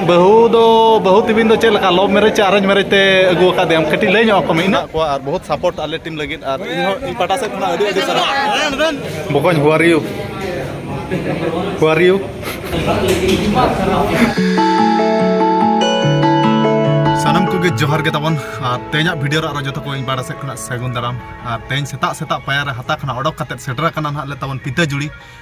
ᱵᱟᱹᱦᱩ ᱫᱚ ᱵᱟᱹᱦᱩ ᱛᱤᱵᱤᱱ ᱫᱚ ᱪᱮᱫ ᱞᱮᱠᱟ ᱞᱚᱵ ᱢᱮᱨᱮᱡᱽ ᱥᱮ ᱟᱨᱮᱧᱡᱽ ᱢᱮᱨᱮᱡᱽ ᱛᱮ ᱟᱹᱜᱩ ᱟᱠᱟᱫᱮᱭᱟᱢ ᱠᱟᱹᱴᱤᱡ ᱞᱟᱹᱭ ᱧᱚᱜ ᱟᱠᱚ ᱢᱮ ᱤᱱᱟᱹᱜ ᱠᱚᱣᱟ ᱟᱨ ᱵᱚᱦᱩᱛ ᱥᱟᱯᱳᱨᱴ ᱟᱞᱮ ᱴᱤᱢ ᱞᱟᱹᱜᱤᱫ ᱟᱨ ᱤᱧ ᱦᱚᱸ ᱤᱧ ᱯᱟᱦᱴᱟ ᱥᱮᱫ ᱠᱷᱚᱱᱟᱜ ᱟᱹᱰᱤ ᱟᱹᱰᱤ ᱥᱟᱨᱦᱟᱣ ᱵᱚᱠᱚᱧ ᱦᱩ ᱟᱨ ᱤᱭᱩ ᱦᱩ ᱟᱨ ᱤᱭᱩ ᱥᱟᱱᱟᱢ ᱠᱚᱜᱮ ᱡᱚᱦᱟᱨ ᱜᱮ ᱛᱟᱵᱚᱱ ᱟᱨ ᱛᱮᱦᱮᱧᱟᱜ ᱵᱷᱤᱰᱤᱭᱳ ᱨᱮ ᱟᱨᱚ ᱡᱚᱛᱚ ᱠᱚ ᱤᱧ ᱯᱟᱦᱴᱟ ᱥᱮᱫ ᱠᱷᱚᱱᱟᱜ ᱥᱟᱹᱜᱩᱱ ᱫᱟᱨᱟᱢ ᱟᱨ ᱛᱮᱦᱮᱧ ᱥᱮᱛᱟᱜ ᱥᱮᱛᱟᱜ ᱯᱟᱭᱟᱨ ᱨᱮ ᱦᱟᱛᱟ ᱠᱷᱚᱱᱟᱜ ᱚᱰᱚᱠ ᱠᱟᱛᱮᱫ ᱥᱮᱴᱮᱨ ᱟᱠᱟᱱᱟ ᱱᱟᱦᱟᱜ ᱞᱮ ᱛᱟᱵᱚᱱ ᱯᱤᱛᱟᱹ ᱡᱩᱲᱤ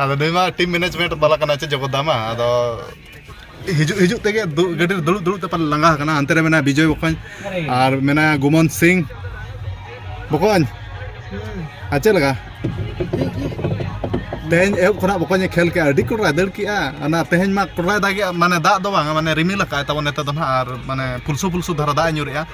ᱟᱫᱚ ᱱᱩᱭ ᱢᱟ ᱴᱤᱢ ᱢᱮᱱᱮᱡᱽᱢᱮᱱᱴ ᱵᱟᱞᱟ ᱠᱟᱱᱟᱭ ᱪᱮ ᱡᱚᱜᱚᱫᱟ ᱢᱟ ᱟᱫᱚ ᱦᱤᱡᱩᱜ ᱦᱤᱡᱩᱜ ᱛᱮᱜᱮ ᱜᱟᱹᱰᱤ ᱨᱮ ᱫᱩᱲᱩᱵ ᱫᱩᱲᱩᱵ ᱛᱮ ᱯᱟᱞᱮ ᱞᱟᱸᱜᱟ ᱟᱠᱟᱱᱟ ᱦᱟᱱᱛᱮ ᱨᱮ ᱢᱮᱱᱟᱭᱟ ᱵᱤᱡᱚᱭ ᱵᱚᱠᱚᱧ ᱟᱨ ᱢᱮᱱᱟᱭᱟ ᱜᱩᱢᱚᱱ ᱥᱤᱝ ᱵᱚᱠᱚᱧ ᱟᱨ ᱪᱮᱫ ᱞᱮᱠᱟ ᱛᱮᱦᱮᱧ ᱮᱦᱚᱵ ᱠᱷᱚᱱᱟᱜ ᱵᱚᱠᱚᱧᱮ ᱠᱷᱮᱞ ᱠᱮᱜᱼᱟ ᱟᱹᱰᱤ ᱠᱚᱲᱟᱭ ᱫᱟᱹᱲ ᱠᱮᱜᱼᱟ ᱚᱱᱟ ᱛᱮᱦᱮᱧ ᱢᱟ ᱠᱚᱲᱟᱭ ᱫᱟᱜᱮᱜᱼᱟ ᱢᱟᱱᱮ ᱫᱟᱜ ᱫᱚ ᱵᱟᱝ ᱢᱟᱱᱮ ᱨᱤᱢᱤᱞ ᱟᱠᱟᱫ ᱛᱟᱵᱚᱱ ᱱᱤᱛᱚᱜ ᱫᱚ ᱱᱟᱦᱟᱜ ᱟᱨ ᱢᱟᱱᱮ ᱯᱷᱩᱞᱥᱩ ᱯᱷᱩᱞᱥᱩ ᱫᱷᱟᱨᱟ ᱫᱟᱜ ᱮ ᱧᱩᱨᱮᱜᱼᱟ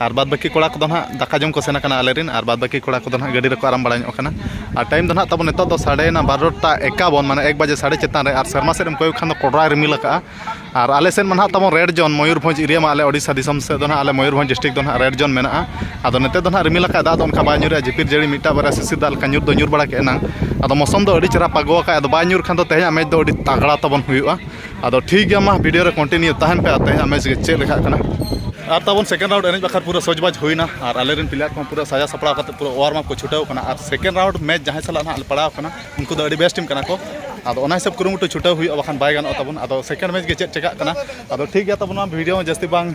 ᱟᱨ ᱵᱟᱫᱽ ᱵᱟᱹᱠᱤ ᱠᱚᱲᱟ ᱠᱚᱫᱚ ᱱᱟᱦᱟᱜ ᱫᱟᱠᱟ ᱡᱚᱢ ᱠᱚ ᱥᱮᱱ ᱟᱠᱟᱱᱟ ᱟᱞᱮ ᱨᱮᱱ ᱟᱨ ᱵᱟᱫᱽ ᱵᱟᱹᱠᱤ ᱠᱚᱲᱟ ᱠᱚᱫᱚ ᱱᱟᱦᱟᱜ ᱜᱟᱹᱰᱤ ᱨᱮᱠᱚ ᱟᱨᱟᱢ ᱵᱟᱲᱟ ᱧᱚᱜ ᱠᱟᱱᱟ ᱟᱨ ᱴᱟᱭᱤᱢ ᱫᱚ ᱱᱟᱦᱟᱜ ᱛᱟᱵᱚᱱ ᱱᱤᱛᱚᱜ ᱫᱚ ᱥᱟᱰᱮᱭᱮᱱᱟ ᱵᱟᱨᱚᱴᱟ ᱮᱠᱟᱵᱚᱱ ᱢᱟᱱᱮ ᱮᱠ ᱵᱟᱡᱮ ᱥᱟᱰᱮ ᱪᱮᱛᱟᱱ ᱨᱮ ᱟᱨ ᱥᱮᱨᱢᱟ ᱥᱮᱫ ᱮᱢ ᱠᱚᱭᱚᱜ ᱠᱷᱟᱱ ᱫᱚ ᱠᱚᱰᱨᱟᱭ ᱨᱤᱢᱤᱞ ᱟᱠᱟᱫᱼᱟ ᱟᱨ ᱟᱞᱮ ᱥᱮᱫ ᱢᱟ ᱱᱟᱦᱟᱜ ᱛᱟᱵᱚᱱ ᱨᱮᱰ ᱡᱳᱱ ᱢᱚᱭᱩᱨᱵᱷᱚᱸᱡᱽ ᱮᱨᱤᱭᱟ ᱢᱟ ᱟᱞᱮ ᱳᱰᱤᱥᱟ ᱫᱤᱥᱚᱢ ᱥᱮᱫ ᱫᱚ ᱱᱟᱦᱟᱜ ᱟᱞᱮ ᱢᱚᱭᱩᱨᱵᱷᱚᱸᱡᱽ ᱰᱤᱥᱴᱨᱤᱠ ᱫᱚ ᱱᱟᱦᱟᱜ ᱨᱮᱰ ᱡᱳᱱ ᱢᱮᱱᱟᱜᱼᱟ ᱟᱫᱚ ᱱᱤᱛᱚᱜ ᱫᱚ ᱱᱟᱦᱟᱜ ᱨᱤᱢᱤᱞ ᱟᱠᱟᱫᱼᱟᱭ ᱫᱟᱜ ᱫᱚ ᱚᱱᱠᱟ ᱵᱟᱭ ᱧᱩᱨᱮᱜᱼᱟ ᱡᱷᱤᱯᱤᱨ ᱡᱷᱟᱹᱲᱤ ᱢᱤᱫᱴᱟᱝ ᱵᱟᱨᱭᱟ ᱥᱤᱥᱤᱨ ᱫᱟᱜ ᱞᱮᱠᱟ ᱧᱩᱨ ᱫᱚ ᱧᱩᱨ ᱵᱟᱲᱟ ᱠᱮᱫᱼᱟ ᱮᱱᱟᱝ ᱟᱫᱚ ᱢᱳᱥᱳᱢ ᱫᱚ ᱟᱹᱰᱤ ᱪᱮᱦᱨᱟ ᱯᱟᱜᱽᱜᱚ ᱟᱠᱟᱫᱼᱟᱭ ᱟᱫᱚ ᱵᱟᱭ ᱧᱩᱨ ᱠᱷᱟᱱ ᱫᱚ ᱛᱮᱦᱮᱧᱟᱜ ᱢᱮᱪ ᱫᱚ ᱟᱹᱰᱤ ᱛᱟᱜᱽᱲᱟ ᱛᱟᱵᱚᱱ ᱦᱩᱭᱩᱜᱼᱟ ᱟᱫᱚ ᱴᱷᱤᱠ ᱜᱮᱭᱟ ᱢᱟ ᱵᱷᱤᱰᱤᱭᱳ ᱨᱮ ᱠᱚᱱᱴᱤᱱᱤᱭᱩ ᱛᱟᱦᱮᱱ ᱯᱮ ᱟᱨ ᱛᱮᱦᱮᱧᱟᱜ ᱢᱮᱪ ᱜᱮ ᱪᱮᱫ ᱞᱮᱠᱟᱜ ᱠᱟᱱᱟ ᱟᱨ ᱛᱟᱵᱚᱱ ᱥᱮᱠᱮᱱᱰ ᱨᱟᱣᱩᱱᱰ ᱮᱱᱮᱡ ᱵᱟᱠᱷᱨᱟ ᱯᱩᱨᱟᱹ ᱥᱚᱡᱽᱵᱟᱡᱽ ᱦᱩᱭᱱᱟ ᱟᱨ ᱟᱞᱮ ᱨᱮᱱ ᱯᱞᱮᱭᱟᱨ ᱠᱚᱦᱚᱸ ᱯᱩᱨᱟᱹ ᱥᱟᱡᱟᱣ ᱥᱟᱯᱲᱟᱣ ᱠᱟᱛᱮᱫ ᱯᱩᱨᱟᱹ ᱚᱣᱟᱨᱢ ᱟᱯ ᱠᱚ ᱪᱷᱩᱴᱟᱹᱣ ᱠᱟᱱᱟ ᱟᱨ ᱥᱮᱠᱮᱱᱰ ᱨᱟᱣᱩᱱᱰ ᱢᱮᱪ ᱡᱟᱦᱟᱸᱭ ᱥᱟᱞᱟᱜ ᱦᱟᱸᱜ ᱞᱮ ᱯᱟᱲᱟᱣ ᱠᱟᱱᱟ ᱩᱱᱠᱩ ᱫᱚ ᱟᱹᱰᱤ ᱵᱮᱥᱴ ᱴᱤᱢ ᱠᱟᱱᱟ ᱠᱚ ᱟᱫᱚ ᱚᱱᱟ ᱦᱤᱥᱟᱹᱵᱽ ᱠᱩᱨᱩᱢᱩᱴᱩ ᱪᱷᱩᱴᱟᱹᱣ ᱦᱩᱭᱩᱜᱼᱟ ᱵᱟᱠᱷᱟᱱ ᱵᱟᱭ ᱜᱟᱱᱚᱜ ᱛᱟᱵᱚᱱᱟ ᱟᱫᱚ ᱥᱮᱠᱮᱱᱰ ᱢᱮᱪ ᱜᱮ ᱪᱮᱫ ᱪᱤᱠᱟᱹᱜ ᱠᱟᱱᱟ ᱟᱫᱚ ᱴᱷᱤᱠ ᱜᱮᱭᱟ ᱛᱟᱵᱚᱱ ᱢᱟ ᱵᱷᱤᱰᱤᱭᱳ ᱦᱚᱸ ᱡᱟᱹᱥᱛᱤ ᱵᱟᱝ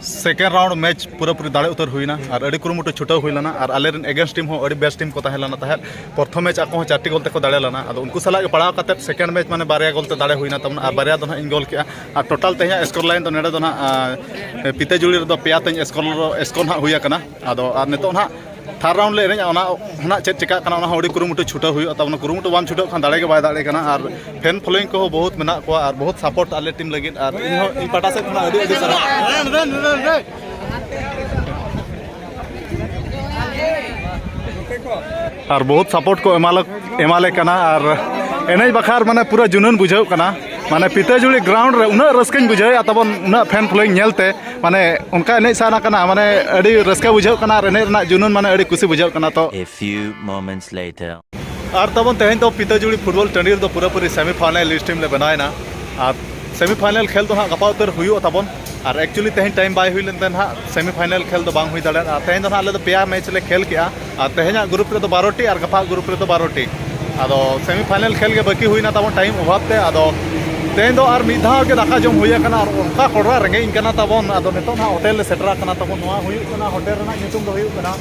ᱥᱮᱠᱮᱱᱰ ᱨᱟᱣᱩᱱᱰ ᱢᱮᱪ ᱯᱩᱨᱟᱹᱯᱩᱨᱤ ᱫᱟᱲᱮ ᱩᱛᱟᱹᱨ ᱦᱩᱭᱱᱟ ᱟᱨ ᱟᱹᱰᱤ ᱠᱩᱨᱩᱢᱩᱴᱩ ᱪᱷᱩᱴᱟᱹᱣ ᱦᱩᱭ ᱞᱮᱱᱟ ᱟᱨ ᱟᱞᱮ ᱨᱮᱱ ᱮᱜᱮᱱᱥᱴ ᱴᱤᱢ ᱦᱚᱸ ᱟᱹᱰᱤ ᱵᱮᱥ ᱴᱤᱢ ᱠᱚ ᱛᱟᱦᱮᱸ ᱞᱮᱱᱟ ᱛᱟᱦᱮᱸᱫ ᱯᱨᱚᱛᱷᱚᱢ ᱢᱮᱪ ᱟᱠᱚ ᱦᱚᱸ ᱪᱟᱨᱴᱤ ᱜᱳᱞ ᱛᱮᱠᱚ ᱫᱟᱲᱮ ᱞᱮᱱᱟ ᱟᱫᱚ ᱩᱱᱠᱩ ᱥᱟᱞᱟᱜ ᱜᱮ ᱯᱟᱲᱟᱣ ᱠᱟᱛᱮᱫ ᱥᱮᱠᱮᱱᱰ ᱢᱮᱪ ᱢᱟᱱᱮ ᱵᱟᱨᱭᱟ ᱜᱳᱞ ᱛᱮ ᱫᱟᱲᱮ ᱦᱩᱭᱱᱟ ᱛᱟᱵᱚᱱ ᱟᱨ ᱵᱟᱨᱭᱟ ᱫᱚ ᱦᱟᱸᱜ ᱤᱧ ᱜᱳᱞ ᱠᱮᱜᱼᱟ ᱟᱨ ᱴᱳᱴᱟᱞ ᱛᱮᱦᱮᱧᱟᱜ ᱥᱠᱳᱨ ᱞᱟᱭᱤᱱ ᱫᱚ ᱱᱚᱰᱮ ᱫᱚ ᱦᱟᱸᱜ ᱯᱤᱛᱟᱹᱡᱩᱲᱤ ᱨᱮᱫᱚ ᱯᱮᱭᱟ ᱛᱤᱧ ᱥᱠᱳᱨ ᱥᱠᱳᱨ ᱦᱟᱸᱜ ᱦᱩᱭ ᱟᱠᱟᱱᱟ ᱟᱫᱚ ᱟᱨ ᱱᱤᱛᱚᱜ ᱱᱟᱦᱟᱜ ᱛᱷᱟᱨᱰ ᱨᱟᱣᱩᱱᱰ ᱞᱮ ᱮᱱᱮᱡᱼᱟ ᱚᱱᱟ ᱱᱟᱦᱟᱜ ᱪᱮᱫ ᱪᱤᱠᱟᱹᱜ ᱠᱟᱱᱟ ᱚᱱᱟ ᱦᱚᱸ ᱟᱹᱰᱤ ᱠᱩᱨᱩᱢᱩᱴᱩ ᱪᱷᱩᱴᱟᱹᱣ ᱦᱩᱭᱩᱜᱼᱟ ᱛᱟᱵᱚᱱᱟ ᱠᱩᱨᱩᱢᱩᱴᱩ ᱵᱟᱢ ᱪᱷᱩᱴᱟᱹᱜ ᱠᱷᱟᱱ ᱫᱟᱲᱮ ᱜᱮ ᱵᱟᱭ ᱫᱟᱲᱮ ᱠᱟᱱᱟ ᱟᱨ ᱯᱷᱮᱱ ᱯᱷᱳᱞᱳᱭᱤᱝ ᱠᱚᱦᱚᱸ ᱵᱚᱦᱩᱛ ᱢᱮᱱᱟᱜ ᱠᱚᱣᱟ ᱟᱨ ᱵᱚᱦᱩᱛ ᱥᱟᱯᱳᱨᱴ ᱟᱞᱮ ᱴᱤᱢ ᱞᱟᱹᱜᱤᱫ ᱟᱨ ᱤᱧ ᱦᱚᱸ ᱤᱧ ᱯᱟᱦᱴᱟ ᱥᱮᱫ ᱠᱷᱚᱱᱟᱜ ᱟᱹᱰᱤ ᱟᱹᱰᱤ ᱥᱟᱨᱦᱟᱣ ᱟᱨ ᱵᱚᱦᱩᱛ ᱥᱟᱯᱳᱨᱴ ᱠᱚ ᱮᱢᱟᱞᱮ ᱮᱢᱟᱞᱮ ᱠᱟᱱᱟ ᱟᱨ ᱮᱱᱮᱡ ᱵᱟᱠᱷᱟᱨ ᱢᱟᱱᱮ ᱯᱩᱨᱟᱹ ᱡᱩᱱᱩᱱ ᱵᱩᱡᱷᱟᱹᱜ ᱠᱟᱱᱟ ᱢᱟᱱᱮ ᱯᱤᱛᱟᱹᱡᱩᱲᱤ ᱜᱨᱟᱣᱩᱱᱰ ᱨᱮ ᱩᱱᱟᱹᱜ ᱨᱟᱹᱥᱠᱟᱹᱧ ᱵᱩᱡᱷᱟᱹᱣᱮᱫᱼᱟ ᱛᱟᱵᱚᱱ ᱩᱱᱟᱹᱜ ᱯᱷᱮᱱ ᱯᱷᱳᱞᱳᱭᱤᱝ ᱧᱮᱞᱛᱮ ᱢᱟᱱᱮ ᱚᱱᱠᱟ ᱮᱱᱮᱡ ᱥᱟᱱᱟ ᱠᱟᱱᱟ ᱢᱟᱱᱮ ᱟᱹᱰᱤ ᱨᱟᱹᱥᱠᱟᱹ ᱵᱩᱡᱷᱟᱹᱜ ᱠᱟᱱᱟ ᱟᱨ ᱮᱱᱮᱡ ᱨᱮᱱᱟᱜ ᱡᱩᱱᱩᱱ ᱢᱟᱱᱮ ᱟᱹᱰᱤ ᱠᱩᱥᱤ ᱵᱩᱡᱷᱟᱹᱜ ᱠᱟᱱᱟ ᱛᱚ A few moments later. ᱟᱨ ᱛᱟᱵᱚᱱ ᱛᱮᱦᱮᱧ ᱫᱚ ᱯᱤᱛᱟᱹᱡᱩᱲᱤ ᱯᱷᱩᱴᱵᱚᱞ ᱴᱟᱺᱰᱤ ᱨᱮᱫᱚ ᱯᱩᱨᱟᱹᱯᱩᱨᱤ ᱥᱮᱢᱤ ᱯᱷᱟᱭᱱᱟᱞ ᱞᱤᱥᱴ ᱴᱤᱢ ᱞᱮ ᱵᱮᱱᱟᱣᱮᱱᱟ ᱟᱨ ᱥᱮᱢᱤ ᱯᱷᱟᱭᱱᱟᱞ ᱠᱷᱮᱞ ᱫᱚ ᱦᱟᱸᱜ ᱜᱟᱯᱟ ᱩᱛᱟᱹᱨ ᱦᱩᱭᱩᱜᱼᱟ ᱛᱟᱵᱚᱱ ᱟᱨ ᱮᱠᱪᱩᱭᱮᱞᱤ ᱛᱮᱦᱮᱧ ᱴᱟᱭᱤᱢ ᱵᱟᱭ ᱦᱩᱭ ᱞᱮᱱᱛᱮ ᱦᱟᱸᱜ ᱥᱮᱢᱤ ᱯᱷᱟᱭᱱᱟᱞ ᱠᱷᱮᱞ ᱫᱚ ᱵᱟᱝ ᱦᱩᱭ ᱫᱟᱲᱮᱭᱟᱫᱟ ᱛᱮᱦᱮᱧ ᱫᱚ ᱦᱟᱸᱜ ᱟᱞᱮ ᱫᱚ ᱯᱮᱭᱟ ᱢᱮᱪ ᱞᱮ ᱠᱷᱮᱞ ᱠᱮᱜᱼᱟ ᱟᱨ ᱛᱮᱦᱮᱧᱟᱜ ᱜᱨᱩᱯ ᱨᱮᱫᱚ ᱵᱟᱨᱚᱴᱤ ᱟᱨ ᱜᱟᱯᱟ ᱜᱨᱩᱯ ᱨᱮᱫᱚ ᱵᱟᱨᱚᱴᱤ ᱟᱫᱚ ᱥᱮᱢᱤ ᱯᱷᱟᱭᱱᱟᱞ ᱠᱷᱮᱞ ᱜᱮ ᱵᱟᱹᱠᱤ ᱦᱩᱭᱱᱟ ᱛᱟᱵᱚᱱ ᱴᱟᱭᱤᱢ ᱚᱵᱷᱟᱵ ᱛᱮ ᱟᱫᱚ ᱛᱮᱦᱮᱧ ᱫᱚ ᱟᱨ ᱢᱤᱫ ᱫᱷᱟᱣ ᱜᱮ ᱫᱟᱠᱟ ᱡᱚᱢ ᱦᱩᱭ ᱟᱠᱟᱱᱟ ᱟᱨ ᱚᱱᱠᱟ ᱠᱚᱰᱨᱟ ᱨᱮᱸᱜᱮᱡ ᱤᱧ ᱠᱟᱱᱟ ᱛᱟᱵᱚᱱ ᱟᱫᱚ ᱱᱤᱛᱚᱜ ᱱᱟᱦᱟᱜ ᱦᱳᱴᱮᱞ ᱞᱮ ᱥᱮᱴᱮᱨ ᱟᱠᱟᱱᱟ ᱛᱟᱵᱚᱱ ᱱᱚᱣᱟ ᱦᱩᱭᱩᱜ ᱠᱟᱱᱟ ᱦᱳᱴᱮᱞ ᱨᱮᱱᱟᱜ ᱧᱩᱛᱩᱢ ᱫᱚ ᱦᱩᱭᱩᱜ ᱠᱟᱱᱟ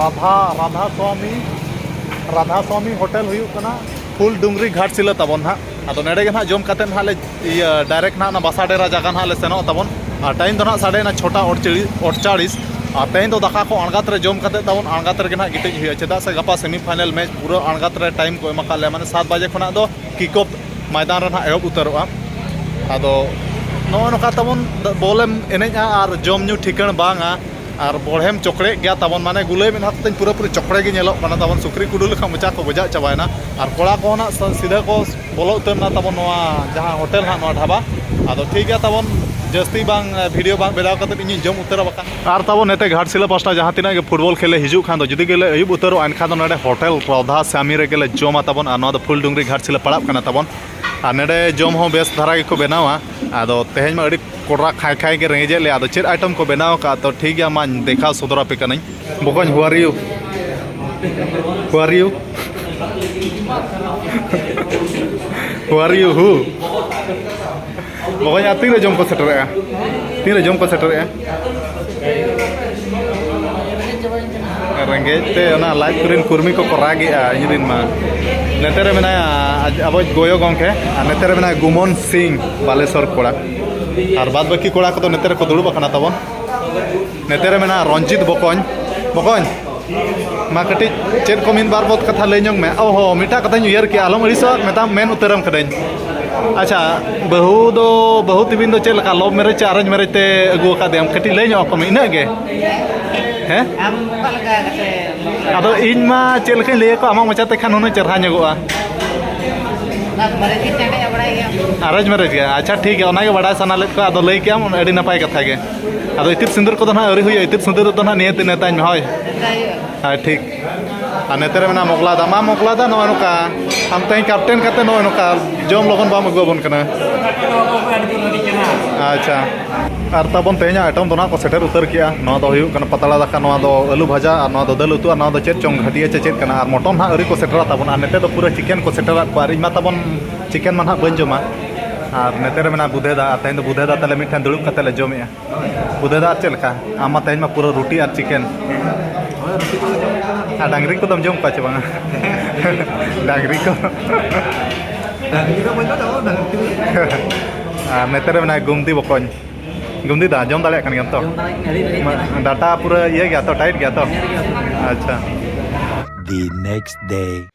ᱨᱟᱫᱷᱟ ᱨᱟᱫᱷᱟ ᱥᱚᱢᱤ ᱨᱟᱫᱷᱟ ᱥᱚᱢᱤ ᱦᱳᱴᱮᱞ ᱦᱩᱭᱩᱜ ᱠᱟᱱᱟ ᱯᱷᱩᱞ ᱰᱩᱝᱨᱤ ᱜᱷᱟᱴᱥᱤᱞᱟᱹ ᱛᱟᱵᱚᱱ ᱱᱟᱦᱟᱜ ᱟᱫᱚ ᱱᱚᱰᱮ ᱜᱮ ᱱᱟᱦᱟᱜ ᱡᱚᱢ ᱠᱟᱛᱮ ᱱᱟᱦᱟᱜ ᱞᱮ ᱤᱭᱟᱹ ᱰᱟᱭᱨᱮᱠᱴ ᱱᱟᱦᱟᱜ ᱚᱱᱟ ᱵᱟᱥᱟ ᱰᱮᱨᱟ ᱡᱟᱭᱜᱟ ᱱᱟᱦᱟᱜ ᱞᱮ ᱥᱮᱱᱚᱜ ᱛᱟᱵᱚᱱ ᱟᱨ ᱴᱟᱭᱤᱢ ᱫᱚ ᱱᱟᱦᱟᱜ ᱥᱟᱰᱮᱭᱮᱱᱟ ᱪᱷᱚᱴᱟ ᱚᱲᱪᱟᱲᱤᱥ ᱟᱨ ᱛᱮᱦᱮᱧ ᱫᱚ ᱫᱟᱠᱟ ᱠᱚ ᱟᱬᱜᱟᱛ ᱨᱮ ᱡᱚᱢ ᱠᱟᱛᱮ ᱛᱟᱵᱚᱱ ᱟᱬᱜᱟᱛ ᱨᱮᱜᱮ ᱱᱟᱦᱟᱜ ᱜᱤᱛᱤᱡ ᱦᱩᱭᱩᱜᱼᱟ ᱪᱮᱫᱟᱜ ᱥᱮ ᱜᱟᱯᱟ ᱥᱮᱢᱤ ᱯᱷᱟᱭᱱᱮᱞ ᱢᱮᱪ ᱯᱩᱨᱟᱹ ᱟᱬᱜᱟᱛ ᱨᱮ ᱴᱟᱭᱤᱢ ᱠᱚ ᱮᱢ ᱟᱠᱟᱫ ᱞᱮᱭᱟ ᱢᱟᱱᱮ ᱥᱟᱛ ᱵᱟᱡᱮ ᱠᱷᱚᱱᱟᱜ ᱫᱚ ᱠᱤᱠ ᱚᱯᱷ ᱢᱚᱭᱫᱟᱱ ᱨᱮ ᱱᱟᱦᱟᱜ ᱮᱦᱚᱵ ᱩᱛᱟᱹᱨᱚᱜᱼᱟ ᱟᱫᱚ ᱱᱚᱜᱼᱚ ᱱᱚᱝᱠᱟ ᱛᱟᱵᱚᱱ ᱵᱚᱞᱮᱢ ᱮᱱᱮᱡᱼᱟ ᱟᱨ ᱡᱚᱢᱼᱧᱩ ᱴᱷᱤᱠᱟᱹᱬ ᱵᱟᱝᱟ ᱟᱨ ᱵᱚᱲᱦᱮᱢ ᱪᱚᱠᱲᱮᱜ ᱜᱮᱭᱟ ᱛᱟᱵᱚᱱ ᱢᱟᱱᱮ ᱜᱩᱞᱟᱹᱭ ᱢᱮᱫ ᱦᱟᱸᱜ ᱛᱟᱹᱧ ᱯᱩᱨᱟᱹ ᱯᱩᱨᱤ ᱪᱚᱠᱲᱮ ᱜᱮ ᱧᱮᱞᱚᱜ ᱠᱟᱱᱟ ᱛᱟᱵᱚᱱ ᱥᱩᱠᱨᱤ ᱠᱩᱰᱩ ᱞᱮᱠᱟ ᱢᱚᱪᱟ ᱠᱚ ᱜᱚᱡᱟᱜ ᱪᱟᱵᱟᱭᱮᱱᱟ ᱟᱨ ᱠᱚᱲᱟ ᱠᱚᱦᱚᱸ ᱱᱟᱜ ᱥᱤᱫᱷᱟᱹ ᱠᱚ ᱵᱚᱞᱚ ᱩᱛᱟᱹᱨ ᱮᱱᱟ ᱛᱟᱵᱚᱱ ᱱᱚᱣᱟ ᱡᱟᱦᱟᱸ ᱦᱳᱴᱮᱞ ᱦᱟᱸᱜ ᱱᱚᱣᱟ ᱰᱷᱟᱵᱟ ᱟᱫᱚ ᱴᱷᱤᱠ ᱜᱮᱭᱟ ᱛᱟᱵᱚᱱ ᱡᱟᱹᱥᱛᱤ ᱵᱟᱝ ᱵᱷᱤᱰᱤᱭᱳ ᱵᱟᱝ ᱵᱮᱱᱟᱣ ᱠᱟᱛᱮᱫ ᱤᱧᱤᱧ ᱡᱚᱢ ᱩᱛᱟᱹᱨᱟ ᱵᱟᱠᱷᱟᱱ ᱟᱨ ᱛᱟᱵᱚᱱ ᱱᱚᱛᱮ ᱜᱷᱟᱴᱥᱤᱞᱟᱹ ᱯᱟᱥᱴᱟ ᱡᱟᱦᱟᱸ ᱛᱤᱱᱟᱹᱜ ᱜᱮ ᱯᱷᱩᱴᱵᱚᱞ ᱠᱷᱮᱞ ᱞᱮ ᱦᱤᱡᱩᱜ ᱠᱷᱟᱱ ᱫᱚ ᱡᱩᱫᱤ ᱜᱮᱞᱮ ᱟᱹᱭᱩᱵ ᱩᱛᱟᱹᱨᱚᱜᱼᱟ ᱮᱱᱠᱷᱟᱱ ᱫᱚ ᱱᱚᱰᱮ ᱦᱳᱴᱮᱞ ᱨᱟᱫᱷᱟ ᱥᱟᱢᱤ ᱨᱮᱜᱮ ᱞᱮ ᱡᱚᱢᱟ ᱛᱟᱵᱚᱱ ᱟᱨ ᱱᱚᱣᱟ ᱫᱚ ᱯᱷᱩᱞᱰᱩᱝᱨᱤ ᱜᱷᱟᱴᱥᱤᱞᱟᱹ ᱯᱟᱲᱟᱜ ᱠᱟᱱᱟ ᱛᱟᱵᱚᱱ ᱟᱨ ᱱᱚᱰᱮ ᱡᱚᱢ ᱦᱚᱸ ᱵᱮᱥ ᱫᱷᱟᱨᱟ ᱜᱮᱠᱚ ᱵᱮᱱᱟᱣᱟ ᱟᱫᱚ ᱛᱮᱦᱮᱧ ᱢᱟ ᱟᱹᱰᱤ ᱠᱚᱰᱨᱟ ᱠᱷᱟᱸᱭ ᱠᱷᱟᱸᱭ ᱜᱮ ᱨᱮᱸᱜᱮᱡᱮᱫ ᱞᱮᱭᱟ ᱟᱫᱚ ᱪᱮᱫ ᱟᱭᱴᱮᱢ ᱠᱚ ᱵᱮᱱᱟᱣ ᱟᱠᱟᱫᱼᱟ ᱛᱚ ᱴᱷᱤᱠ ᱜᱮᱭᱟ ᱢᱟᱧ ᱫᱮᱠᱷᱟᱣ ᱥᱚᱫᱚᱨ ᱟᱯᱮ ᱠᱟᱹᱱᱟᱹᱧ ᱵᱚᱠᱚᱧ how are you how are you how are you ᱦᱩ ᱵᱚᱠᱚᱧ ᱟᱨ ᱛᱤᱱᱨᱮ ᱡᱚᱢ ᱠᱚ ᱥᱮᱴᱮᱨᱮᱜᱼᱟ ᱛᱤᱱᱨᱮ ᱡᱚᱢ ᱠᱚ ᱥᱮᱴᱮᱨᱮᱜᱼᱟ ᱨᱮᱸᱜᱮᱡ ᱛᱮ ᱚᱱᱟ ᱞᱟᱡ ᱠᱚᱨᱮᱱ ᱠᱚᱨᱢᱤ ᱠᱚᱠᱚ ᱨᱟᱜᱮᱜᱼᱟ ᱤᱧ ᱨᱮᱱ ᱢᱟ ᱱᱮᱛᱮ ᱨᱮ ᱢᱮᱱᱟᱭᱟ ᱟᱵᱚᱭᱤᱡ ᱜᱚᱭᱚ ᱜᱚᱢᱠᱮ ᱟᱨ ᱱᱮᱛᱮ ᱨᱮ ᱢᱮᱱᱟᱭᱟ ᱜᱩᱢᱚᱱ ᱥᱤᱝ ᱵᱟᱞᱮᱥᱚᱨ ᱠᱚᱲᱟ ᱟᱨ ᱵᱟᱫ ᱵᱟᱹᱠᱤ ᱠᱚᱲᱟ ᱠᱚᱫᱚ ᱱᱮᱛᱮ ᱨᱮᱠᱚ ᱫᱩᱲᱩᱵ ᱟᱠᱟᱱᱟ ᱛᱟᱵᱚᱱ ᱱᱮᱛᱮ ᱨᱮ ᱢᱮᱱᱟᱜ ᱨᱚᱧᱡᱤᱛ ᱵᱚᱠᱚᱧ ᱵᱚᱠᱚᱧ ᱢᱟ ᱠᱟᱹᱴᱤᱡ ᱪᱮᱫ ᱠᱚ ᱢᱤᱫ ᱵᱟᱨ ᱵᱚᱛ ᱠᱟᱛᱷᱟ ᱞᱟᱹᱭ ᱧᱚᱜ ᱢᱮ ᱚ ᱦᱚᱸ ᱢᱤᱫᱴᱟᱝ ᱠᱟᱛᱷᱟᱧ ᱩᱭᱦᱟᱹᱨ ᱠᱮᱜᱼᱟ ᱟᱞᱚᱢ ᱟᱹᱲᱤᱥᱚᱜᱼᱟ ᱢᱮᱛᱟᱢ ᱢᱮᱱ ᱩᱛᱟᱹᱨᱟᱢ ᱠᱟᱹᱱᱟᱹᱧ ᱟᱪᱪᱷᱟ ᱵᱟᱹᱦᱩ ᱫᱚ ᱵᱟᱹᱦᱩ ᱛᱤᱵᱤᱱ ᱫᱚ ᱪᱮᱫ ᱞᱮᱠᱟ ᱞᱚᱵᱷ ᱢᱮᱨᱮᱡᱽ ᱪᱮ ᱟᱨᱮᱧᱡᱽ ᱢᱮᱨᱮᱡᱽ ᱛᱮ ᱟᱹᱜᱩ ᱟᱠᱟᱫᱮᱭᱟᱢ ᱠᱟᱹᱴᱤᱡ ᱞᱟᱹᱭ ᱧᱚᱜ ᱟᱠᱚᱢᱮ ᱤᱱᱟᱹᱜ ᱜᱮ ᱦᱮᱸ ᱟᱢ ᱚᱠᱟ ᱞᱮᱠᱟ ᱠᱟᱛᱮ ᱟᱫᱚ ᱤᱧ ᱢᱟ ᱪᱮᱫ ᱞᱮᱠᱟᱧ ᱞᱟᱹᱭ ᱟᱠᱚᱣᱟ ᱟᱢᱟᱜ ᱢᱚᱪᱟᱛᱮ ᱠᱷᱟᱱ ᱦᱩᱱᱟᱹᱝ ᱪᱮᱨᱦᱟ ᱧᱚᱜᱚᱜᱼᱟ ᱚᱱᱟ ᱢᱟᱨᱮ ᱜᱮ ᱪᱟᱰᱮ ᱵᱟᱲᱟᱭ ᱜᱮᱭᱟ ᱟᱨᱮᱧᱡᱽ ᱢᱮᱨᱮᱡᱽ ᱜᱮ ᱟᱪᱪᱷᱟ ᱴᱷᱤᱠ ᱜᱮᱭᱟ ᱚᱱᱟᱜᱮ ᱵᱟᱰᱟᱭ ᱥᱟᱱᱟ ᱞᱮᱫ ᱠᱚᱣᱟ ᱟᱫᱚ ᱞᱟᱹᱭ ᱠᱮᱜ ᱟᱢ ᱟᱹᱰᱤ ᱱᱟᱯᱟᱭ ᱠᱟᱛᱷᱟ ᱜᱮ ᱟᱫᱚ ᱤᱛᱤᱫ ᱥᱤᱸᱫᱩᱨ ᱠᱚᱫᱚ ᱱᱟᱦᱟᱜ ᱟᱹᱣᱨᱤ ᱦᱩᱭᱩᱜᱼᱟ ᱤᱛᱤᱫ ᱥᱤᱸᱫᱩᱨ ᱫᱚ ᱱᱟᱦᱟᱜ ᱱᱤᱭᱟᱹᱛᱮ ᱱᱮᱛᱟᱧ ᱢᱮ ᱦᱳᱭ ᱦᱳᱭ ᱴᱷᱤᱠ ᱟᱨ ᱱᱮᱛᱮ ᱨᱮ ᱢᱮᱱᱟᱜᱼᱟ ᱢᱚᱜᱽᱞᱟ ᱫᱟ ᱢᱟ ᱢᱚᱜᱽᱞᱟ ᱫᱟ ᱱᱚᱜᱼᱚᱭ ᱱᱚᱝᱠᱟ ᱟᱢ ᱛᱮᱦᱮᱧ ᱠᱟᱯᱴᱮᱱ ᱠᱟᱛᱮ ᱱᱚᱜᱼᱚᱭ ᱱᱚᱝᱠᱟ ᱡᱚᱢ ᱞᱚᱜᱚᱱ ᱵᱟᱢ ᱟᱹᱜᱩ ᱟᱵᱚᱱ ᱠᱟᱱᱟ ᱟᱪᱪᱷᱟ ᱟᱨ ᱛᱟᱵᱚᱱ ᱛᱮᱦᱮᱧᱟᱜ ᱟᱭᱴᱚᱢ ᱫᱚ ᱱᱟᱦᱟᱜ ᱠᱚ ᱥᱮᱴᱮᱨ ᱩᱛᱟᱹᱨ ᱠᱮᱜᱼᱟ ᱱᱚᱣᱟ ᱫᱚ ᱦᱩᱭᱩᱜ ᱠᱟᱱᱟ ᱯᱟᱛᱲᱟ ᱫᱟᱠᱟ ᱱᱚᱣᱟ ᱫᱚ ᱟᱹᱞᱩ ᱵᱷᱟᱡᱟ ᱟᱨ ᱱᱚᱣᱟ ᱫᱚ ᱫᱟᱹᱞ ᱩᱛᱩ ᱟᱨ ᱱᱚᱣᱟ ᱫᱚ ᱪᱮᱫ ᱪᱚᱝ ᱜᱷᱟᱹᱴᱤᱭᱟᱹ ᱪᱮ ᱪᱮᱫ ᱠᱟᱱᱟ ᱟᱨ ᱢᱚᱴᱚᱱ ᱱᱟᱦᱟᱜ ᱟᱹᱣᱨᱤ ᱠᱚ ᱥᱮᱴᱮᱨᱟ ᱛᱟᱵᱚᱱ ᱟᱨ ᱱᱮᱛᱮ ᱫᱚ ᱯᱩᱨᱟᱹ ᱪᱤᱠᱮᱱ ᱠᱚ ᱥᱮᱴᱮᱨᱟᱫ ᱠᱚᱣᱟ ᱟᱨ ᱤᱧ ᱢᱟ ᱛᱟᱵᱚᱱ ᱪᱤᱠᱮᱱ ᱢᱟ ᱱᱟᱦᱟᱜ ᱵᱟᱹᱧ ᱡᱚᱢᱟ ᱟᱨ ᱱᱚᱛᱮ ᱨᱮ ᱢᱮᱱᱟᱜᱼᱟ ᱵᱩᱫᱷᱮ ᱫᱟ ᱟᱨ ᱛᱮᱦᱮᱧ ᱫᱚ ᱵᱩᱫᱷᱮ ᱫᱟ ᱛᱟᱞᱮ ᱢᱤᱫᱴᱷᱮᱱ ᱫᱩᱲᱩᱵ ᱠᱟᱛᱮ ᱞᱮ ᱡᱚᱢᱮᱜᱼᱟ ᱵᱩᱫᱷᱮ ᱫᱟ ᱟᱨ ᱪᱮᱫ ᱞᱮᱠᱟ ᱟᱢ ᱢᱟ ᱛᱮᱦᱮᱧ ᱢᱟ ᱯᱩᱨᱟᱹ ᱨᱩᱴᱤ ᱟᱨ ᱪᱤᱠᱮᱱ ᱟᱨ ᱰᱟᱝᱨᱤ ᱠᱚᱫᱚᱢ ᱡᱚᱢ ᱠᱚᱣᱟ ᱪᱮ ᱵᱟᱝᱟ ᱰᱟᱝᱨᱤ ᱠᱚ ᱟᱨ ᱱᱚᱛᱮ ᱨᱮ ᱢᱮᱱᱟᱭᱟ ᱜᱩᱢᱫᱤ ᱵᱚᱠᱚᱧ ᱜᱩᱢᱫᱤ ᱫᱟ ᱡᱚᱢ ᱫᱟᱲᱮᱭᱟᱜ ᱠᱟᱱ ᱜᱮᱭᱟᱢ ᱛᱚ ᱰᱟᱴᱟ ᱯᱩᱨᱟᱹ ᱤᱭᱟᱹ ᱜᱮᱭᱟ ᱛᱚ ᱴᱟᱭᱤᱴ ᱜᱮᱭᱟ ᱛᱚ ᱟᱪᱪᱷᱟ the next day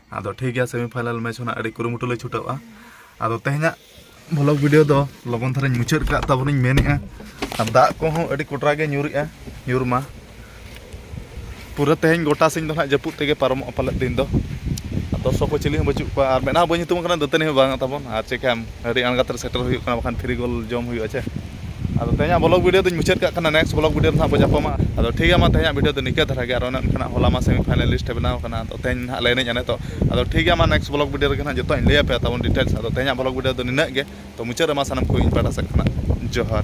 ᱟᱫᱚ ᱴᱷᱤᱠ ᱜᱮᱭᱟ ᱥᱮᱢᱤ ᱯᱷᱟᱭᱱᱟᱞ ᱢᱮᱪ ᱦᱚᱸ ᱟᱹᱰᱤ ᱠᱩᱨᱩᱢᱩᱴᱩ ᱞᱮ ᱪᱷᱩᱴᱟᱹᱜᱼᱟ ᱟᱫᱚ ᱛᱮᱦᱮᱧᱟᱜ ᱵᱷᱞᱚᱜ ᱵᱷᱤᱰᱤᱭᱳ ᱫᱚ ᱞᱚᱜᱚᱱ ᱫᱷᱟᱨᱟᱧ ᱢᱩᱪᱟᱹᱫ ᱠᱟᱜ ᱛᱟᱵᱚᱱᱤᱧ ᱢᱮᱱᱮᱜᱼᱟ ᱟᱨ ᱫᱟᱜ ᱠᱚᱦᱚᱸ ᱟᱹᱰᱤ ᱠᱚᱴᱨᱟ ᱜᱮ ᱧᱩᱨᱮᱜᱼᱟ ᱧᱩᱨ ᱢᱟ ᱯᱩᱨᱟᱹ ᱛᱮᱦᱮᱧ ᱜᱚᱴᱟ ᱥᱤᱧ ᱫᱚ ᱱᱟᱜ ᱡᱟᱹᱯᱩᱫ ᱛᱮᱜᱮ ᱯᱟᱨᱚᱢᱚᱜᱼᱟ ᱯᱟᱞᱮᱫ ᱫᱤᱱ ᱫᱚ ᱫᱚᱨᱥᱚᱠ ᱠᱚ ᱪᱤᱞᱤ ᱦᱚᱸ ᱵᱟᱹᱪᱩᱜ ᱠᱚᱣᱟ ᱟᱨ ᱢᱮᱫ ᱦᱚᱸ ᱵᱟᱹᱧ ᱦᱩᱛᱩᱢ ᱠᱟᱱᱟ ᱫᱟᱹᱛᱟᱹᱱᱤ ᱦᱚᱸ ᱵᱟᱝ ᱛᱟᱵᱚᱱ ᱟᱨ ᱪᱮᱠᱟᱭᱟᱢ ᱟᱹᱰᱤ ᱟᱬᱜᱟᱛ ᱨᱮ ᱥᱮᱴᱮᱨ ᱦᱩᱭᱩᱜ ᱠᱟᱱᱟ ᱵᱟᱠᱷᱟᱱ ᱯᱷᱨᱤ ᱜᱳᱞ ᱡᱚᱢ ᱦᱩᱭᱩᱜᱼᱟ ᱪᱮ ᱟᱫᱚ ᱛᱮᱦᱮᱧᱟᱜ ᱵᱞᱚᱜᱽ ᱵᱷᱤᱰᱤᱭᱳ ᱫᱚᱧ ᱢᱩᱪᱟᱹᱫ ᱠᱟᱜ ᱠᱟᱱᱟ ᱱᱮᱠᱥᱴ ᱵᱞᱚᱜᱽ ᱵᱷᱤᱰᱤᱭᱳ ᱨᱮ ᱱᱟᱦᱟᱜ ᱵᱚᱱ ᱧᱟᱯᱟᱢᱟ ᱟᱫᱚ ᱴᱷᱤᱠ ᱜᱮᱭᱟ ᱢᱟ ᱛᱮᱦᱮᱧᱟᱜ ᱵᱷᱤᱰᱤᱭᱳ ᱫᱚ ᱱᱤᱝᱠᱟᱹ ᱫᱷᱟᱨᱟ ᱜᱮ ᱟᱨ ᱚᱱᱮ ᱚᱱᱠᱟᱱᱟᱜ ᱦᱚᱞᱟ ᱢᱟ ᱥᱮᱢᱤ ᱯᱷᱟᱭᱱᱟᱞ ᱞᱤᱥᱴ ᱵᱮᱱᱟᱣ ᱠᱟᱱᱟ ᱟᱫᱚ ᱛᱮᱦᱮᱧ ᱱᱟᱦᱟᱜ ᱞᱮ ᱮᱱᱮᱡᱼᱟ ᱱᱤᱛᱚᱜ ᱟᱫᱚ ᱴᱷᱤᱠ ᱜᱮᱭᱟ ᱢᱟ ᱱᱮᱠᱥᱴ ᱵᱞᱚᱜᱽ ᱵᱷᱤᱰᱤᱭᱳ ᱨᱮᱜᱮ ᱱᱟᱦᱟᱜ ᱡᱚᱛᱚᱣᱟᱜ ᱤᱧ ᱞᱟᱹᱭ ᱟᱯᱮᱭᱟ ᱛᱟᱵᱚᱱ ᱰᱤᱴᱮᱞᱥ ᱟᱫᱚ ᱛᱮᱦᱮᱧᱟᱜ ᱵᱞᱚᱜᱽ ᱵᱷᱤᱰᱤᱭᱳ ᱫᱚ ᱱᱤᱱᱟᱹᱜ ᱜᱮ ᱛᱚ ᱢᱩᱪᱟᱹᱫ ᱨᱮ ᱢᱟ ᱥᱟᱱᱟᱢ ᱠᱚ ᱤᱧ ᱯᱟᱦᱴᱟ ᱥᱮᱫ ᱠᱷᱚᱱᱟᱜ ᱡᱚᱦᱟᱨ